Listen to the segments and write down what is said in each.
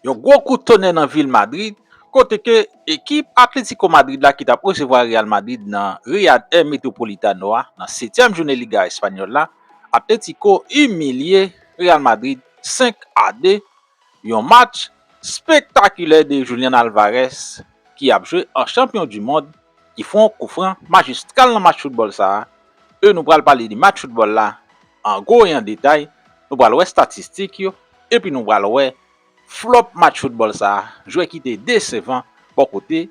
Yon gwo kout tonè nan vil Madrid kote ke ekip Atlético Madrid la ki tap resevwa Real Madrid nan Riyad El Metropolitano a nan setyèm jounen Liga Espanyòl la, Atlético imilye Real Madrid 5 a 2, yon match spektakilè de Julian Alvarez ki ap jwe an chanpyon du mond ki fon kou fran majistral nan match foutbòl sa a e nou pral pale de match foutbòl la an gwo e an detay, nou pral wè statistik yo. Epi nou pral wè flop match football sa, jwè ki te desevan bò kote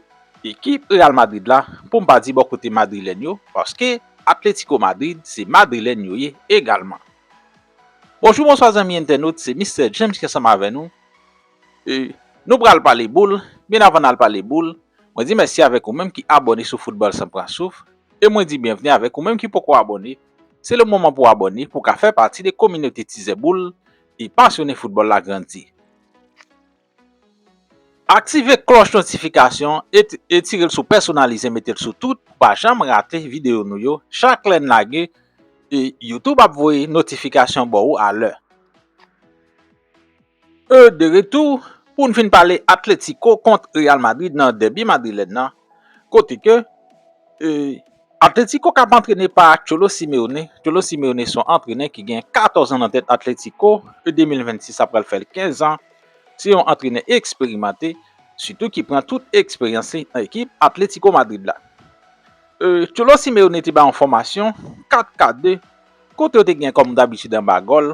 ekip Real Madrid la, pou m pa di bò kote Madrilèn yo, paske Atletico Madrid se Madrilèn yo ye egalman. Bonjou bonswa zanmi entènot, se Mistè James ki ansanm avè nou. E, nou pral pale boul, men avan n al pale boul, mwen di mèsi avèk ou menm ki abòne sou Football San Pran Souf, e mwen di byenvni avèk ou menm ki poko abòne, Se le moman pou abòne pou w ka fè pati de kominote Tizè Boul e pasyone foutbòl la grandi. Aktive klòch notifikasyon e tire l sou pèsonalize mete l sou tout pou pa janm rate videyo nou yo chak lè n lage e YouTube ap voye notifikasyon bò ou a lè. E de retou pou n fin pale Atletico kont Real Madrid nan dèbi madrilèn nan kote ke Atletico kap antrene pa Cholo Simeone, Cholo Simeone son antrenè ki gen 14 an nan tèt Atletico, e 2026 sa pral fè l 15 an, se yon antrenè eksperimante sitou ki pran tout eksperyans li nan ekip Atletico Madrid la. E Cholo Simeone te bay yon fòmasyon 4-4-2 kote yo te gen kòm dabitid anba gòl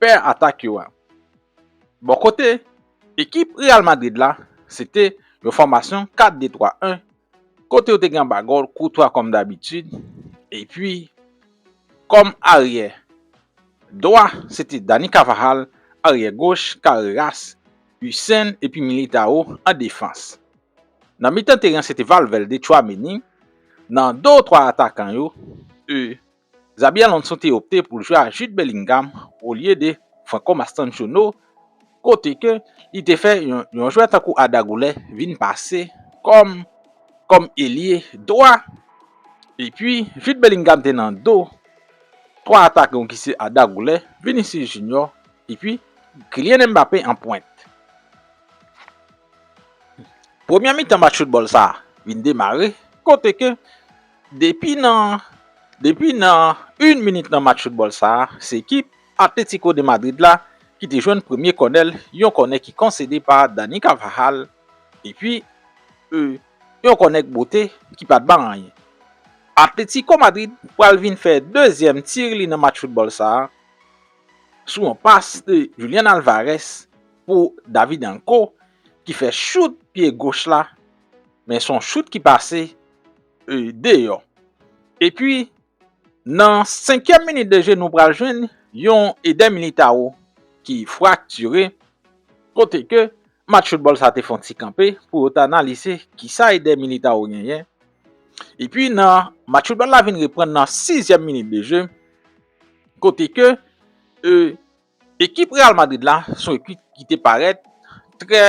pè atak yo a. Bò kote ekip Real Madrid la, se te yon fòmasyon 4-2-3-1 kote yo te gen anba gòl Courtois kòm dabitid epi kòm aryè dwa se te Dani Carvajal, aryè goch Carreras, Hussein epi Militao an defans. Nan mitan teren an se te Valverde, Tchouaméni, nan do twa atakan yo, eu, Xabi Alonso te opte pou l jwe a Jude Bellingham olye de Franco Mastantuono kote ke li te fè yon jwè tankou Arda Guler vin pase kòm kòm elye dwa epi Jude Bellingham te nan do 3 atakan yo ki se Arda Guler, Vinicius Junior epi Kylian Mbappé an pwent. Premyè mitan match foutbòl sa vin demare kote ke Depi nan Depi nan yn minit nan match foutbòl sa a, se ekip Atlético de Madrid la ki te jwenn premye kònèl, yon kònè ki konsede pa Dani Carvajal epi eu yon kònè k bote ki pat ban anyen. Atlético Madrid pral vin fè dezyèm tir li nan match foutbòl sa a sou yon pas de Julian Alvarez pou David Anko ki fè chout pye goch la Men son chout ki pase deyò. Epi nan senkyèm minit de je nou pral jwenn yon Eder Militao ki fraktire kote ke match foutbòl sa te fon ti kanpe pou yo ta analize kisa Eder Militao genyen. Epi nan match foutbòl la vin reprann nan sizyèm minit de je kote ke e Ekip Real Madrid la se yon ekip ki te parèt trè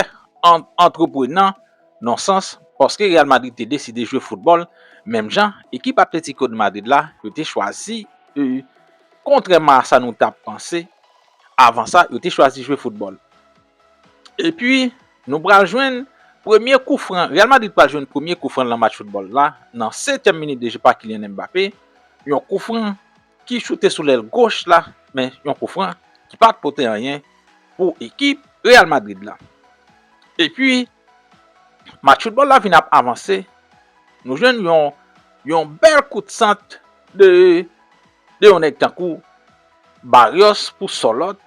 antreprenan nan sans paske Real Madrid te deside jwe foutbòl menm jan ekip Atlético de Madrid la yo te chwazi kontrèman a sa nou ta panse avan sa yo te chwazi jwe foutbòl epi nou pral jwenn premye kou fran Real Madrid pral jwenn premye kou fran nan match foutbòl la nan setyèm minit de jeu pa Kylian Mbappé yon kou fran ki choute sou lèl goch la men yon koufran ki pat pote anyen pou ekip Real Madrid la. Epi match foutbòl la vin ap avanse, nou jwenn yon yon bèl kout sant de de yon nèg tankou Barrios pou Sòlòt,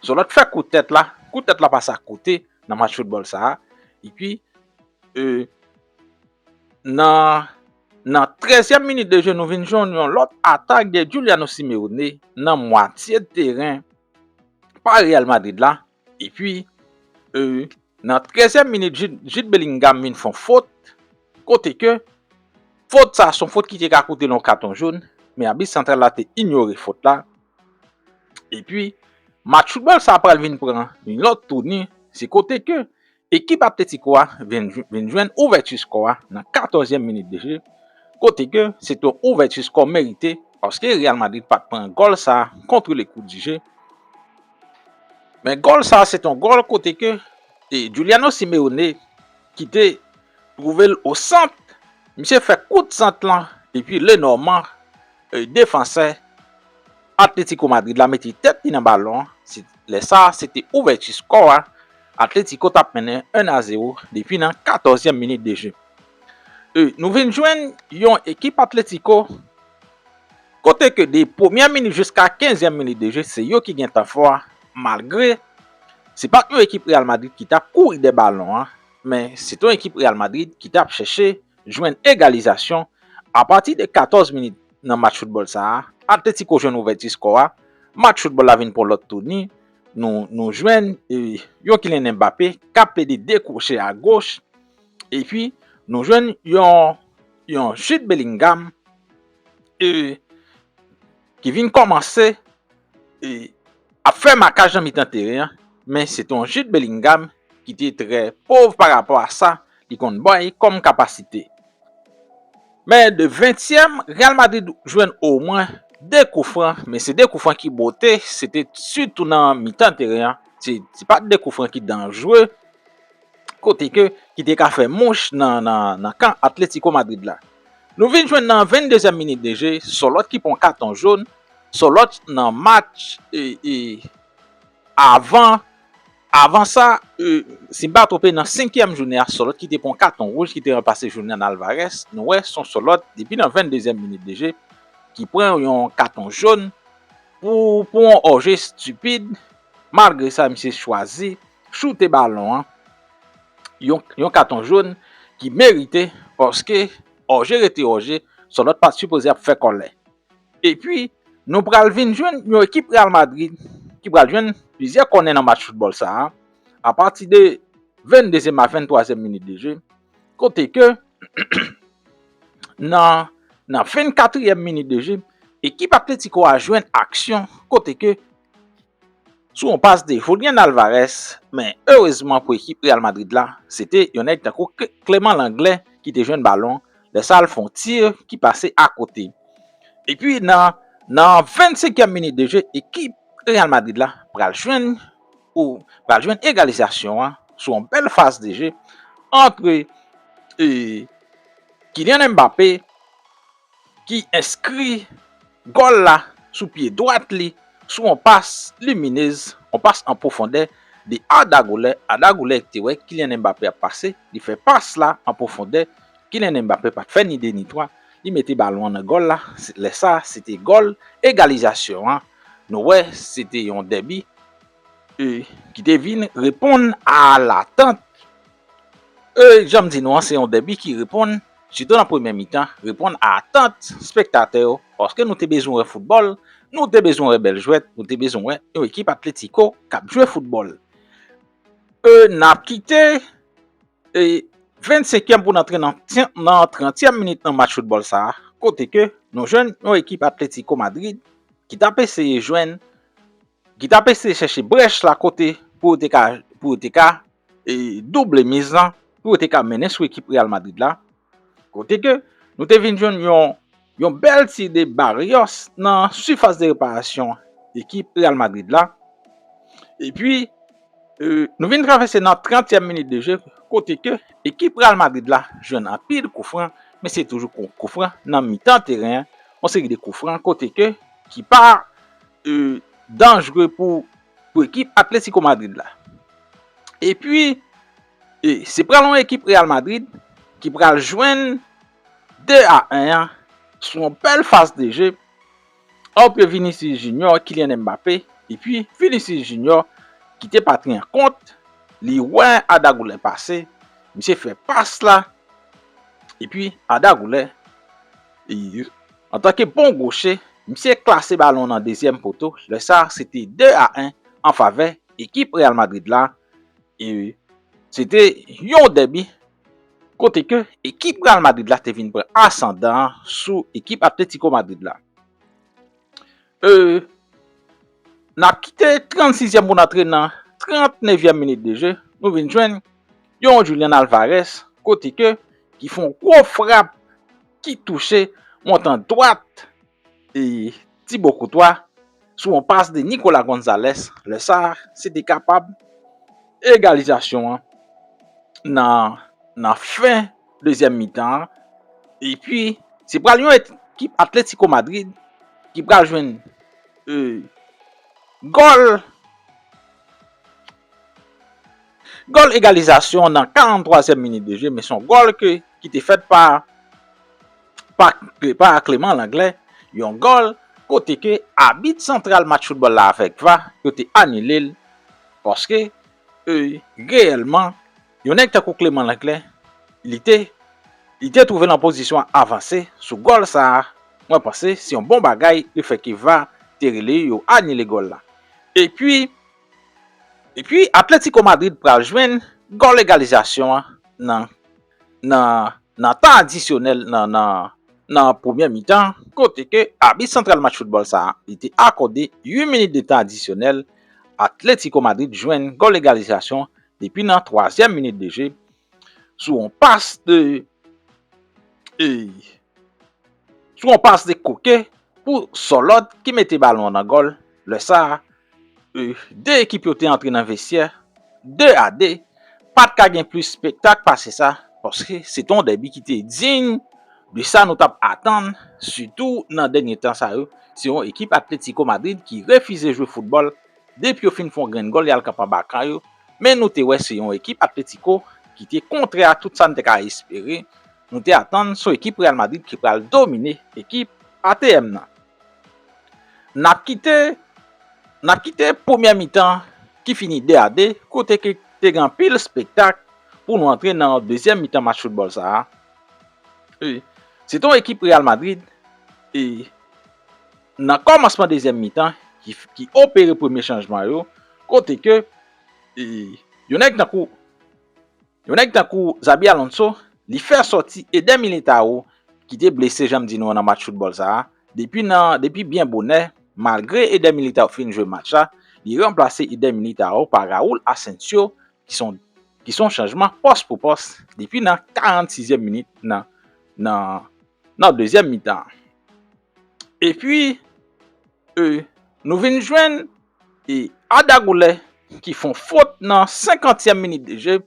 Sòlòt fè kout tèt la, kout tèt la pase akote nan match foutbòl sa a epi e. Nan nan trèzyèm minit de je nou vin jwenn yon lòt atak de Giuliano Simeone nan mwatye teren pa Real Madrid la epi nan trèzyèm minit Jude Bellingham vin fon fot kote ke fot sa son fot ki te ka koutel yon katon jòn men abit santral la te inyore fot la epi match foutbòl sa pral vin pran yon lòt touni se kote ke Ekip Atletico a vin jwenn ouvèti skò a nan 14 zièm minit de je kote ke se te yon ouvèti skò merite paske Real Madrid pat pran gòl sa contre le coup du jeu men gòl sa se te yon gòl kote ke Juliano Simeone ki te trouve l o sant misye fè kout sant lan epi le Norman defansè Atletico Madrid la mete tèt li nan balon an se lè sa se te ouvèti skò a Atletico tap mennen 1 a 0 depi nan 14 zièm minit de jeu. E nou vin jwenn yon ekip Atletico kote ke de premyè minit jiska 15 zièm minit de jeu se yo ki gen tan fò a malgre se pat yon ekip Real Madrid ki tap kouri dè balon an men se t yon ekip Real Madrid ki tap chèche jwenn egalizasyon a pati de 14 minit nan match foutbòl sa a Atletico jwenn ouvèti skò a match foutbòl la vin pran lòt touni. Nou jwenn yon Kylian Mbappé k ap plede dekwoche a goch epi nou jwenn yon Jude Bellingham ki vin kòmanse ap fè makaj nan mitan teren an men se te yon Jude Bellingham ki te trè pov parapò a sa Li konn bay kòm kapasite. Men de ventyèm, Real Madrid jwenn omwen 2 koufran, men se 2 koufran ki bote, se te sitou nan mitan teren an, se pa t 2 koufran ki danjre, kote ke ki te ka fè mouch nan kan Atlético Madrid la. Nou vin jwenn nan 22 zièm minit de je, Sòlòt ki pran katon joun, Sòlòt nan match avan. Avan sa, si m pa twonpe nan senkyèm jounen a Sòlòt kite pran yon katon wouj ki te ranplase Julian Alvarez, nou wè son Sòlòt depi nan 22 zièm minit de je ki pran yon katon jón pou pou yon òje stipid, malgre sa misye chwazi choute balon an yon yon katon jón ki merite paske òje rete òje Sòlòt pat sipoze ap fè kòlè. Epi, nou pral vin jwenn yon ekip Real Madrid ki pral jwenn plizyè kònè nan match foutbòl sa a, apati de 22 zièm a 23 zièm minit de je, kote ke nan nan 24 ièm minit de je, ekip Atletico a jwenn aksyon kote ke Sou yon pas de Julian Alvarez, men erezman pou ekip Real Madrid la, se te yon nèg tankou Clément Lenglet ki te jwenn balon, lè sa l fè yon tir ki pase akote. Epi nan nan 25 kièm minit de je ekip Real Madrid la pral jwenn ou pral jwenn egalizasyon an sou yon bèl fas de je antre e Kylian Mbappé, ki enskri gòl la sou pye dwat li sou yon pas Luminez, yon pas an pwofondè de Arda Güler, Arda Güler te wè Kylian Mbappé ap pase, li fè pas la an pwofondè, Kylian Mbappé pat fè ni 2 ni 3, li mete balon an nan gòl la, lè sa se te gòl egalizasyon an, nou wè se te yon dèbi ki te vin reponn a latant. Ey janm di nou an se yon dèbi ki reponn sitou nan premyè mitan reponn a atant spektatè yo paske nou te bezwen wè foutbòl, nou te bezwen wè bèl jwèt, nou te bezwen wè yon ekip Atlético kap jwe foutbòl. E nap kite e 20 senkyèm pou n antre nan 30 tyèm minit nan match foutbòl sa kote ke nou jwenn yon ekip Atlético Madrid ki tap eseye jwenn ki tap eseye chèche brèch la kote pou yo te ka pou yo te ka double miz lan pou yo te ka mennen sou ekip Real Madrid la, kote ke nou te vin jwenn yon bèl ti de Barrios nan sifas de reparasyon ekip Real Madrid la, epi nou vin travèse nan 30 tièm minit de jeu kote ke ekip Real Madrid la jwenn anpil kou fran, men se toujou kou fran nan mitan teren, yon seri de kou fran kote ke ki pa danjre pou pou ekip Atlético Madrid la. Epi, se pral yon ekip Real Madrid ki pral jwenn 2 a 1 an sou yon bèl faz de je antre Vinicius Junior, Kylian Mbappé, epi Vinicius Junior ki te patri an kont, li wè Arda Güler pase, misye fè pas la, epi Arda Güler. Antanke bon goche, misye klase balon nan dezyèm poto, lè sa se te 2 a 1 an favè ekip Real Madrid la e se te yon dèbi kote ke ekip Real Madrid la te vin pran asandan an sou ekip Atlético Madrid la. Nan kite 36 yèm pou n antre nan 39 yèm minit de je, nou vin jwenn yon Julian Alvarez kote ke ki fè yon gwo frap ki touche montan dwat Thibaut Courtois sou yon pas de Nicolas Gonzalez, lè sa se te kapab egalizasyon an nan fen. dezyèm mitan an epi se pral yon ekip Atlético Madrid ki pral jwenn gòl gòl egalizasyon nan 43 zièm minit de je men son gòl ke ki te fèt pa pa Clément Lenglet yon gòl kote ke abit santral match foutbòl la avèk va yo te anile l paske E, reyèlman, yon nèg tankou Clément Langlais, li te, li te twouve l an pozisyon avanse sou gòl sa a, mwen panse se yon bon bagay le fè ke var te rele yo anile gòl la. Epi, epi Atlético Madrid pral jwenn gòl egalizasyon an nan. nan nan tan adisyonèl nan nan nan premyè mitan kote ke abit santral match foutbòl sa a li te akòde 8 minit de tan adisyonèl Atlético Madrid jwenn gòl egalizasyon depi nan twazyèm minit de je sou yon pas de sou yon pas de Koke pou Sòlòt ki mete balon an nan gòl lè sa a 2 ekip yo te antre nan vestyè 2 a 2, pa t ka gen plis spektak pase sa paske se te yon dèbi ki te diy de sa nou t ap atann sitou nan dènye tan sa yo, se yon ekip Atlético Madrid ki refize jwe foutbòl depi yo fin fè yon grenn gòl y al kanpe anba kan yo, men nou te wè se yon ekip Atlético ki te kontrè a tout sa n te ka espere, nou te atann se yon ekip Real Madrid ki pral domine ekip atm nan. Nap kite Nap kite premyè mitan ki fini 2 a 2 kote ke te gen anpil spektak pou nou antre nan dezyèm mitan match foutbòl sa a e se te yon ekip Real Madrid e nan kòmansman dezyèm mitan ki opere premye chanjman yo kote ke e yon nèg tankou Yon nèg tankou Xabi Alonso, li fè sòti Eder Militao ki te blese janm di nou an nan match foutbòl sa a, depi nan depi byen bonè, malgre Eder Militao fin jwe match la, li ranplase Eder Militao pa Raul Asensio ki son ki son chanjman pòs pou pòs depi nan 46 zièm minit nan nan nan dezyèm mitan an. Epi, e nou vin jwenn. E Arda Guler ki fon fot nan 50 tièm minit de jeu,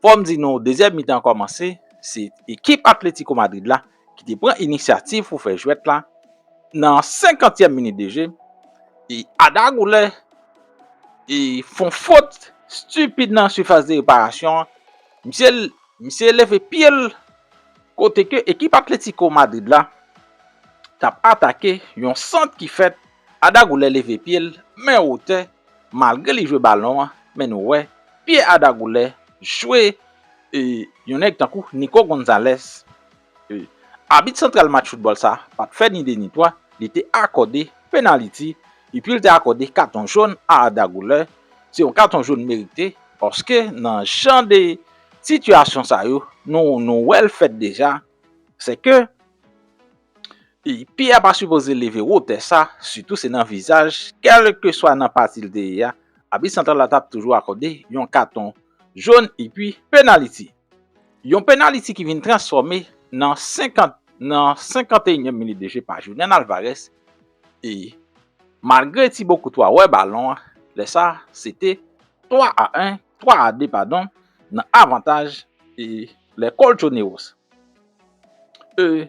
fòm di nou dezyèm mitan kòmanse, se ekip Atlético Madrid la ki te pran inisyativ pou fè jwèt la nan 50 tièm minit de jeu, e Arda Guler e fon fot stupid nan sifas de reparasyon an, misye misye leve pyel kote ke ekip Atlético Madrid la tap atake yon sant ki fèt Ada Goulè leve pye l men wotè malgre li jwe balon an men nou wè pye Ada Goulè jwe yon nèg tankou Nico Gonzalez. Abit santral match foutbòl sa pat fè ni 2 ni 3 li te akòde penaliti epi l te akòde katon jòn a Ada Goulè, se yon katon jòn merite paske nan jan de sitiyasyon sa yo nou wè l fèt deja se ke. Pye a pa sipoze leve wotè sa, sitou se nan vizaj, kèlkeswa nan pati l te ye a, abit santral la t ap toujou akòde yon katon jòn epi penaliti. Yon penaliti ki vin transfòme nan 50 nan 51 nyèm minit de je pa Julian Alvarez e malgre Thibaut Courtois wè balon an, lè sa se te 3 a 1, 3 a 2 padon nan avantaj e Les Colchoneros. E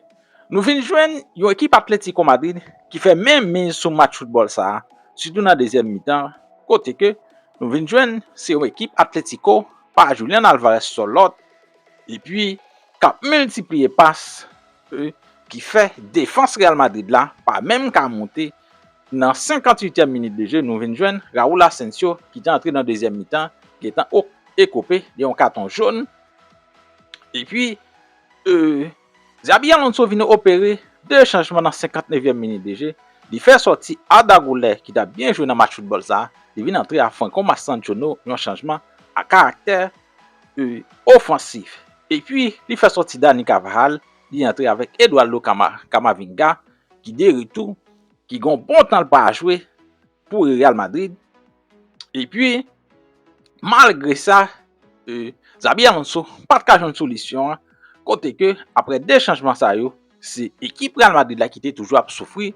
Nou vin jwenn yon ekip Atlético Madrid ki fè menm miz sou match foutbòl sa, sitou nan dezyèm mitan kote ke Nou vin jwenn se yon ekip Atlético pa Julian Alvarez sò lòt epi kap miltipliye pas e ki fè defans Real Madrid la pa menm ka monte nan 58 tièm minit de je Nou vin jwenn Raúl Asensio ki te antre nan dezyèm mitan gentan ekope de yon katon jón Epi, Xabi Alonso vin opere 2 chanjman nan 59 èm minit de je, li fè sòti Arda Güler ki tap byen jwe nan match foutbòl sa, li vin antre a Franco Mastantuono yon chanjman a karaktè ofansif. Epi, li fè sòti Dani Carvajal, li antre avèk Eduardo Camavinga ki de retou, ki gon bon tan l pa jwe. pou Real Madrid. E pi, malgre sa, Xabi Alonso pa t ka jwenn solisyon an, kote ke apre 2 chanjman sa yo, se ekip Real Madrid la ki te toujou ap soufri,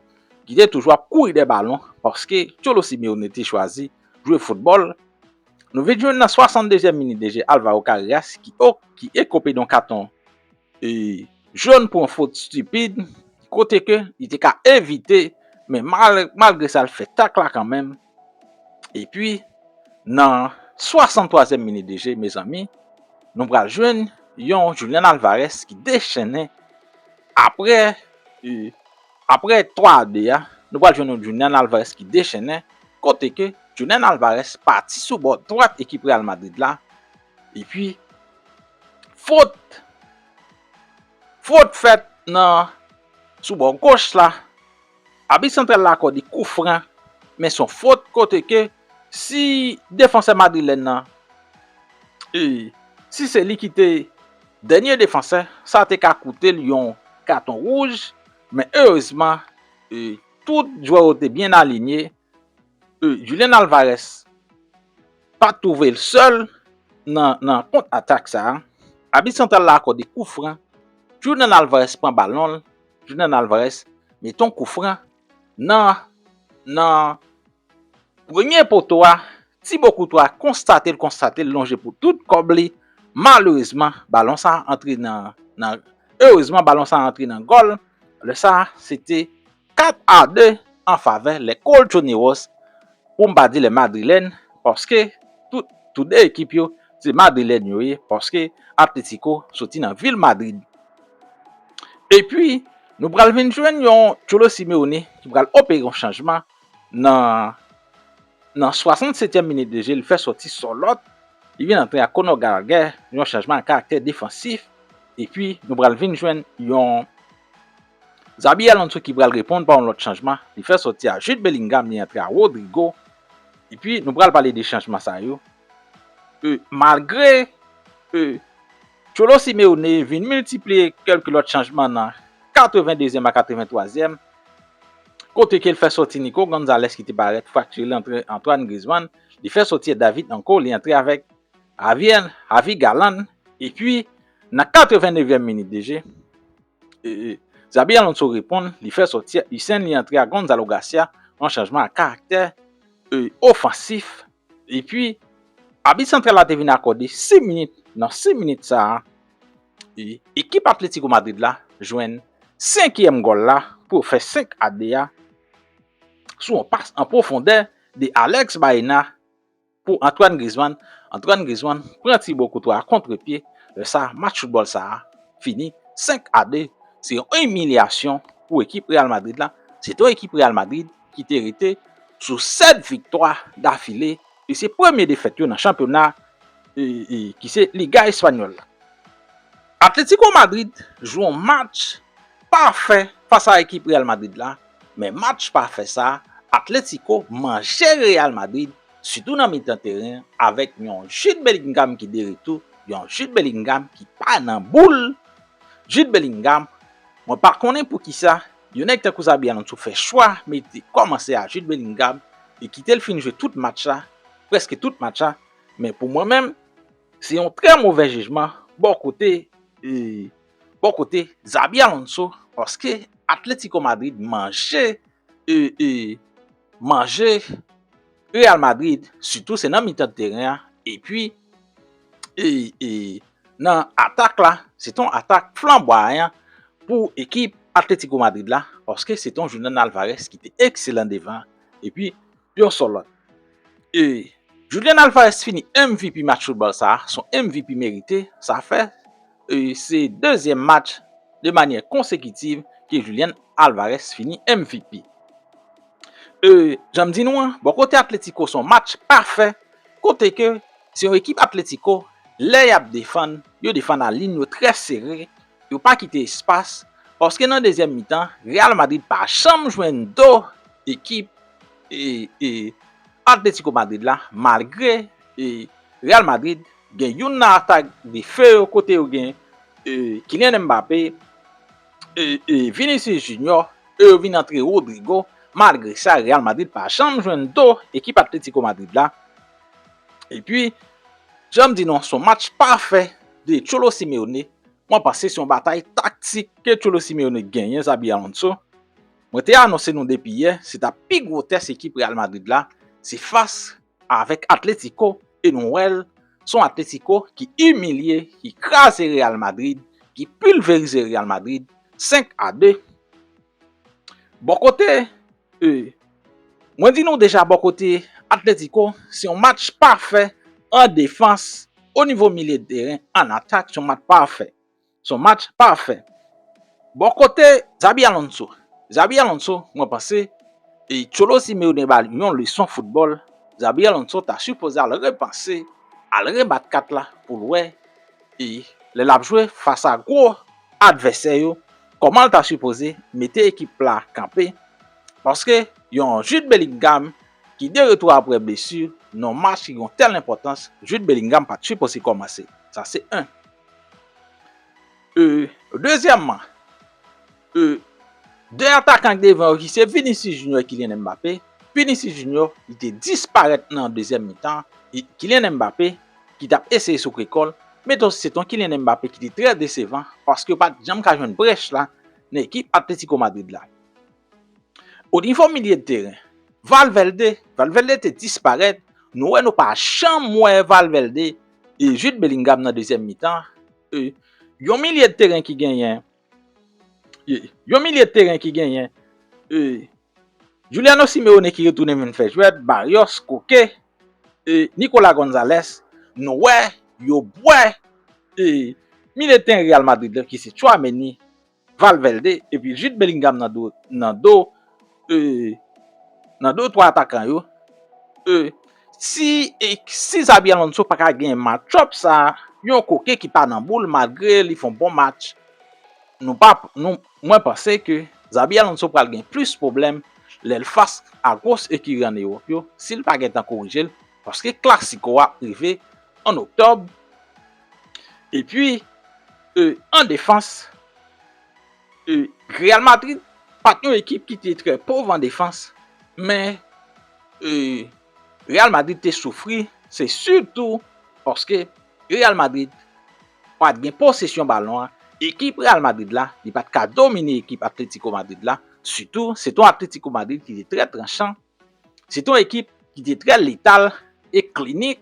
ki te toujou ap kouri dè balon, paske Cholo Simeone te chwazi jwe foutbòl. Nou vin jwenn nan 62 zièm minit de jè Alvaro Carreras ki ekope don katon. John pran fot stipid kote ke li te ka evite men malgre sa li fè tak la kanmenm epi nan 63 zièm minit de je mezanmi nou pral jwenn yon Julian Alvarez ki dechennen apre apre 3 a 2 a nou pral jwenn yon Julian Alvarez ki dechennen kote ke Julian Alvarez pati sou bò dwat ekip Real Madrid la. Epi, fot, fot fèt nan, sou bò goch la, abit santral la akòde kou fran, men son fot kote ke si defansè madrilèn nan, e si se li ki te dènye defansè, sa te ka koute l yon katon wouj, men erezman, e tout jwè yo te byen alinye, Julian Alvarez pa twouve l sèl nan kont atak sa, abit santral la akòde kou fran, Julian Alvarez pran balon l, Julian Alvarez mete yon kou fran nan premye poto a, Thibaut Courtois konstate l konstate l lonje pou tout kòb li, malerezman balon sa antre nan gòl, lè sa se te 4 a 2 an favè les colchoneros pou m pa di les madrilènes paske tout tou 2 ekip yo se madrilèn yo ye paske Atlético soti nan vil Madrid epi nou pral vin jwenn yon Cholo Simeone ki pral opere yon chanjman nan nan 67 tièm minit de je li fè soti Sorloth li vin antre ak Conor Gallagher yon chanjman a karaktè defansif epi nou pral vin jwenn yon. Xabi Alonso ki pral reponn pa yon lòt chanjman, li fè sòti a Jude Bellingham li antre a Rodrygo, epi nou pral pale de chanjman sa yo e malgre e Cholo Simeone vin miltipliye kèlke lòt chanjman nan 82 zyèm a 83 zyèm kote ke l fè sòti Nico Gonzalez ki te parèt fraktire li antre Antoine Griezmann, li fè sòti a David Nko li antre avèk Javier Javi Galán epi nan 89 zyèm minit de je. Xabi Alonso reponn, li fè sòti Hussein li antre a Gonzalo Garcia, yon chanjman ak karaktè ofansif epi abit santral la te vin akòde 6 minit, nan 6 minit sa a ekip Atlético Madrid la jwenn senkyèm gòl la pou yo fè 5 a 2 a sou yon pas an pwofondè de Alex Baena. Pou Antoine Griezmann, Antoine Griezmann pran Thibaut Courtois kontre pye, lè sa match foutbòl sa a fini 5 a 2, se yon imilyasyon pou ekip Real Madrid la, se ton ekip Real Madrid ki te rete sou 7 viktwa dafile e se premye defèt yo nan chanpyona ki se Liga Espanyòl la. Atletico Madrid jwe yon match pafè fas a ekip Real Madrid la, Men match pa fè sa, Atlético manje Real Madrid sitou nan mitan teren avèk yon Jude Bellingham ki de retou, yon Jude Bellingham ki pa nan boul. Jude Bellingham, mwen pa konnen poukisa yon nèg tankou Xabi Alonso fè chwa mete kòmanse a Jude Bellingham e kite l fin jwe tout match la, prèske tout match la, men pou mwen menm se yon trè movè jijman bò kote Bò kote Xabi Alonso paske Atlético Madrid manje manje Real Madrid sitou se nan mitan teren an epi nan atak la se ton atak flanbwayan pou ekip Atlético Madrid la paske se ton Julian Alvarez ki te ekselan devan epi Yon sèl lòt. E Julian Alvarez fini MVP match foutbòl sa a, son MVP merite, sa fè e se dezyèm match de manyè konsekitiv ke Julian Alvarez fini MVP. E jan m di nou an, bò kote Atlético son match pafè kote ke se yon ekip Atlético lè y ap defann, yo defann a lin yo trè sere, Yo pa kite espas paske nan dezyèm mitan Real Madrid pa janm jwenn do ekip Atletico Madrid la malgre Real Madrid gen youn nan atak de feu yo kote yo gen Kylian Mbappé, Vinicius Junior e yo vin antre Rodrygo malgre sa Real Madrid pa janm jwenn do ekip Atletico Madrid la E pi, jan m di nou an, se yon match pafè de Cholo Simeone. Mwen panse se yon batay taktik ke Cholo Simeone genyen Xabi Alonso. Mwen te anonse nou depi yè, se ta pi gwo tès ekip Real Madrid la, se fas avèk Atletico e nou wè l, se yon Atletico ki imilye, ki kraze Real Madrid, ki pilverize Real Madrid 5 a 2. Bò kote E Mwen di nou deja bò kote Atletico se yon match pafè an defans o nivo milye de teren an atak se yon match pafè se yon match pafè bò kote Xabi Alonso Xabi Alonso mwen panse e Cholo Simeone ba li yon leson foutbòl Xabi Alonso ta sipoze al repanse al rebat kat la pou l wè e lè l ap jwe fas a gwo advèsè yo Komanl ta sipoze mete ekip la kanpe paske yon Jude Bellingham ki de retou aprè blesu nan yon match ki gen yon tèl enpòtans Jude Bellingham pat sipoze kòmanse sa se 1 euh dezyèman euh 2 atakan ki devan yo ki se Vinicius Junior e Kylian Mbappé Vinicius Junior li te disparèt nan dezyèm mitan Kylian Mbappé ki tap eseye soukre kòl, men tou se ton Kylian Mbappé ki te trè desevan paske yo pat janm ka jwenn brèch la nan ekip Atlético Madrid la. O nivo milye de teren, Valverde, Valverde te disparèt, nou wè nou pa janm wè Valverde e Jude Bellingham nan dezyèm mitan, yon milye de teren ki genyen Yon milye teren ki genyen Juliano Simeone ki retounen vin fè jwèt, Barrios, Koke, Nicolas Gonzalez, nou wè, yo bwè milye teren Real Madrid la ki se Tchouaméni, Valverde epi Jude Bellingham nan do. Ee nan 2 ou 3 atakan yo ee si si Xabi Alonso pa ka gen matchup sa yon koke ki pa nan boul malgre li fon bon match nou pa nou mwen panse ke Xabi Alonso pral gen plis pwoblèm lè l fas a gwos ekiri an Ewòp yo si l pa gen tan korije l paske klasiko a ap rive an Oktòb epi ee an defans. Real Madrid pa t yon ekip ki te trè pov an defans, men Real Madrid te soufri, se sitou paske Real Madrid pa t gen posesyon balon an, ekip Real Madrid la li pa t ka domine ekip Atlético Madrid la, sitou se t yon Atlético Madrid ki te trè tranchan, se t yon ekip ki te trè letal e klinik.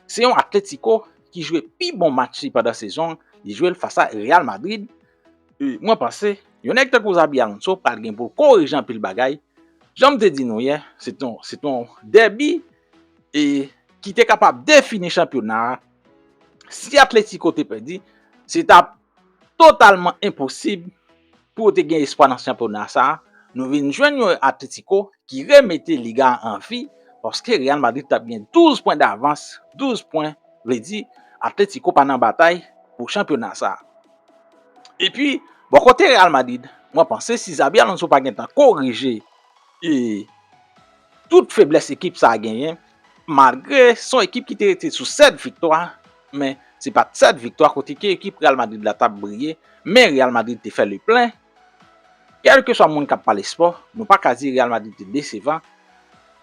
Se yon Atletico ki jwe pi bon match li pandan sezon an, li jwe l fas a Real Madrid e mwen panse yon nèg tankou Xabi Alonso pral gen pou l korije anpil bagay, jan m te di nou yè se te se te yon dèbi e ki te kapab defini chanpyona a, si Atletico te pèdi se t ap Totalman enposib pou yo te gen espwa nan chanpyona sa, nou vin jwenn yon Atlético ki remete Liga a an vi paske Real Madrid tap gen 12 pwen davans, 12 pwen vle di Atlético pa nan batay pou chanpyona sa. Epi bò kote Real Madrid mwen panse si Xabi Alonso pa gentan korije tout feblès ekip sa genyen Malgre son ekip ki te rete sou 7 viktwa, men se pat 7 viktwa kote ke ekip Real Madrid la tap briye, men Real Madrid te fè le plen. Kèlkeswa moun kap pale spò, nou pa ka di Real Madrid te desevan.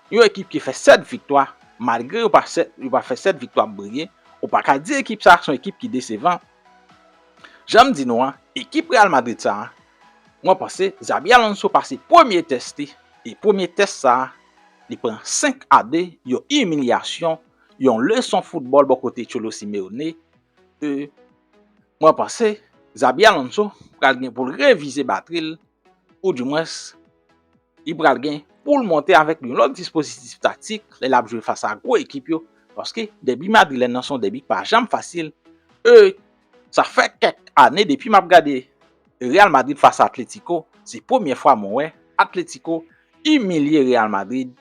Yon ekip ki fè 7 viktwa, malgre yo pa fè 7 viktwa ap briye, ou pa ka di ekip sa son ekip ki desevan. Janm di nou an, ekip Real Madrid sa, mwen panse Xabi Alonso pase premye tès li, e premye tès sa Li pran 5 a 2, yon imilyasyon, yon leson foutbòl bò kote Cholo Simeone. E mwen panse Xabi Alonso pral gen pou l revize batri l ou di mwens li pral gen pou l monte avèk yon lòt dispozitif taktik lè l ap jwe fas a gwo ekip yo paske dèbi madrilèn nan se yon dèbi k pa janm fasil e Sa fè kèk ane depi map gade Real Madrid fas a Atletico, se premye fwa mwen wè Atletico imilye Real Madrid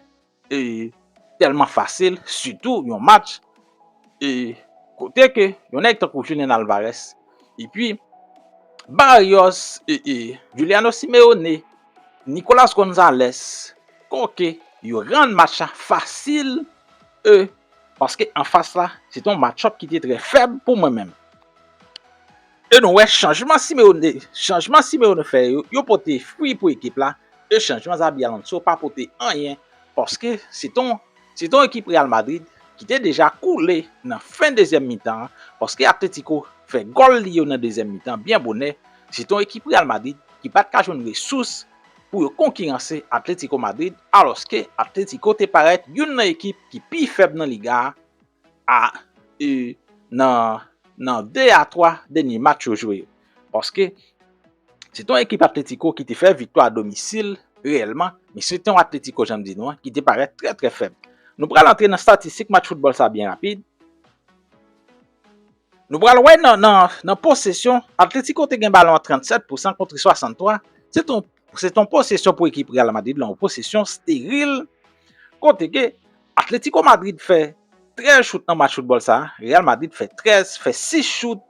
tèlman fasil, sitou yon match kote ke yon nèg tankou Julian Alvarez epi Barrios, Juliano Simeone, Nicolas Gonzalez, Koke yo rann match la fasil. paske anfas la se te yon matchup ki te trè fèb pou mwen menm. E nou wè chanjman Simeone chanjman Simeone fè yo, yo pote fwi pou ekip la, e chanjman Xabi Alonso pa pote anyen paske se te yon se te yon ekip Real Madrid ki te deja koule nan fen dezyèm mitan an paske Atlético fè gòl li yo nan dezyèm mitan byen bonè, se te yon ekip Real Madrid ki pa t ka jwenn resous pou yo konkiranse Atlético Madrid alòske Atlético te parèt youn nan ekip ki pi fèb nan Liga a nan 2 a 3 dènye match yo jwe yo. Paske se te yon ekip Atlético ki te fè viktwa a domisil reyèlman, men se te yon Atlético jan m di nou an ki te parèt trè trè fèb. Nou pral antre nan statistik match foutbòl sa byen rapid. Nou pral wè nan nan posesyon, Atletico te gen balon an 37 pousan kontre 63, se te yon se te yon posesyon pou ekip Real Madrid lan, yon posesyon steril kote ke Atletico Madrid fè 13 chout nan match foutbòl sa, Real Madrid fè 13, fè 6 chout,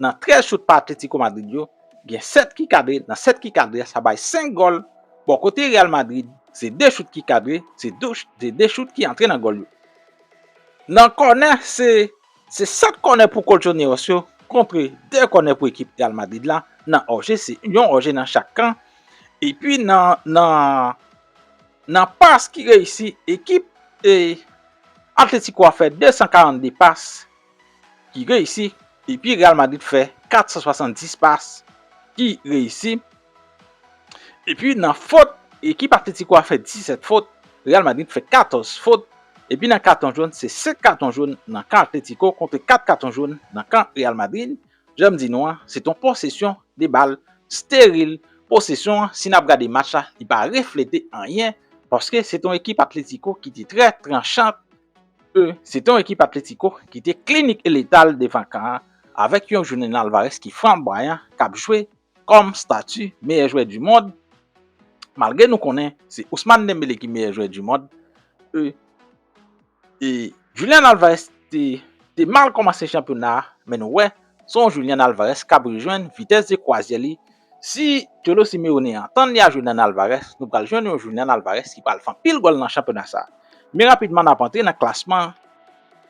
nan 13 chout pa Atletico Madrid yo, gen 7 ki kadre, nan 7 ki kadre a sa bay 5 gòl, bò kote Real Madrid se 2 chout ki kadre, se 2 chout ki antre nan gòl yo. Nan kònè se Se 7 kònè pou Colchoneros yo kontre 2 kònè pou ekip Real Madrid la nan òje, se yon òje nan chak kan. Epi nan pas ki reyisi, ekip Atletico a fè 242 pas ki reyisi, epi Real Madrid fè 470 pas ki reyisi. Epi nan fot, ekip Atletico a fè 17 fot, Real Madrid fè 14 fot, epi nan katon jòn se 5 katon jòn nan kan Atletico kontre 4 katon jòn nan kan Real Madrid, janm di nou an se t on posesyon de bal steril, posesyon an si nap gade match la li pa reflete anyen paske se t on ekip Atletico ki te trè tranchant e se t on ekip Atletico ki te klinik e letal devan kan an avèk yon Julian Alvarez ki flamboyan kap jwe Kòm stati meyè jwè du mond, malgre nou konnen se Ousmane Dembele ki meyè jwè du mond, e Julian Alvarez te mal kòmanse chanpyona a, men nou wè se yon Julian Alvarez kap rejwenn vitès de kwazyè li, si Cholo Simeone antann li a Julian Alvarez, nou pral jwenn yon Julian Alvarez ki pral fè anpil gòl nan chanpyona sa. Men rapidman nap antre nan klasman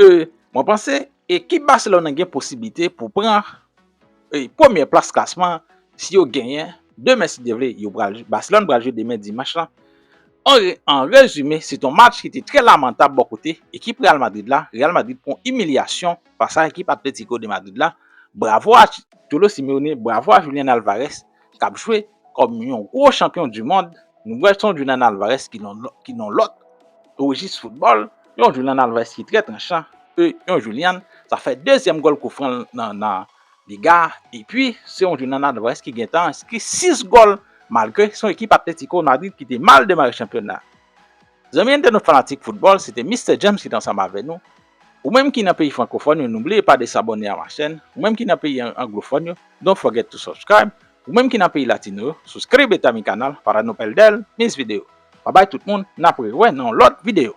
E mwen panse ekip Barcelone an gen posiblite pou pran premye plas klasman an si yo genyen demen si Dye vle yo pral Barcelone pral jwe demen dimanch lan. An rezime se te yon match ki te trè lamantab bò kote ekip Real Madrid la, Real Madrid pran imilyasyon fas a ekip Atlético de Madrid la, bravo a Cholo Simeone, bravo a Julian Alvarez k ap jwe kòm yon gwo chanpyon du mond, nou wè son Julian Alvarez ki yon lòt rejis foutbòl, yon Julian Alvarez ki trè tranchan, e yon Julian sa fè dezyèm gòl kou fran l nan Liga a, epi se yon Julian Alvarez ki gen tan enskri 6 gòl malgre son ekip Atlético Madrid ki te mal demare chanpyona. Zanmi entènot fanatik foutbòl se te Mister James ki t ansanm avè nou, ou menm ki nan peyi frankofòn yo nou bliye pa desabòne a ma chèn, ou menm ki nan peyi anglofòn yo don't forget to subscribe, ou menm ki nan peyi latino yo suscribe ta mi canal para no perder mis video, babay tout moun nap re wè nan yon lòt video.